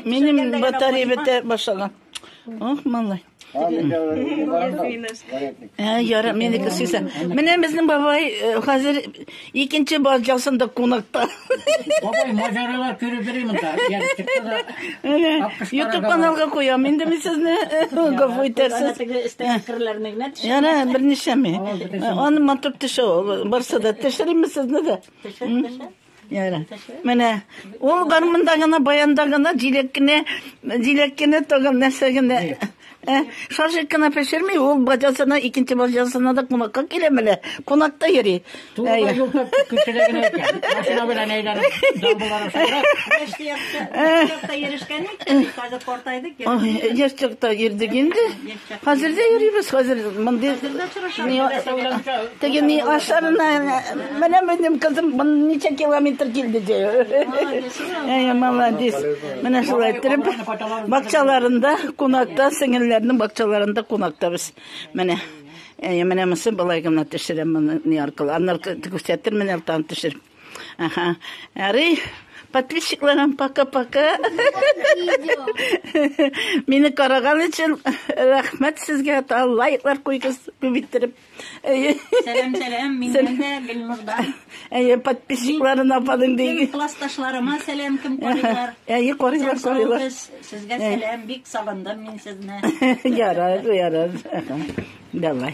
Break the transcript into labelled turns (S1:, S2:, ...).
S1: Минем батарея бетә башлаган. Ох, малай. Ә, яра, минеке сөйсә. Менә безнең бабай э, хәзер икенче баз жасында кунакта. Бабай, маҗаралар күреп йөрим монда. Ягы чыкты да. YouTube каналга куям. Инде мин сезне э, гафу итәрсез. Яра, берничәме? Аны матур төшә. Барса да төшерәме сезне дә? Төшер, төшер. Яра. Менә ул гармунда гына, баянда гына, җиләк кенә, җиләк кенә тагын нәрсә генә. Ә, шаржык кына пешерми, ул баҗасына, икенче баҗасына да кунакка килә менә. Кунакта йөри. Турыда Әйе. юлда күчелә генә икән. Машина белән әйләнеп, дамбалар аша керә. Яшьте якта, якта йөрешкән икән, хәзер картайдык. Ой, яшь чакта йөрдек инде. Хәзер дә йөрибез, хәзер мондый. Теге ни ашарына, менә минем кызым ничә километр килде ди. Әй, молодец. Менә шулай иттереп, бакчаларында, кунакта, сеңелләрнең бакчаларында кунакта без. Менә. Әй, менә монсы былай гына төшерәм моны ни аркылы. Аннары күрсәтермен, әлтан төшереп. Ага. Ярый. Подписчикларым пока-пока. Мине караган өчен рәхмәт сезгә. Та лайклар куйгыз күп иттереп. Сәлам, сәлам. Миннән дә Гөлнурдан. Әйе, подписчикларына апаның диге. Классташларыма сәлам кем карыйлар. Әйе, карыйлар, карыйлар. Сезгә сәлам, бик сагындым мин сезне. Ярар, ярар. Давай.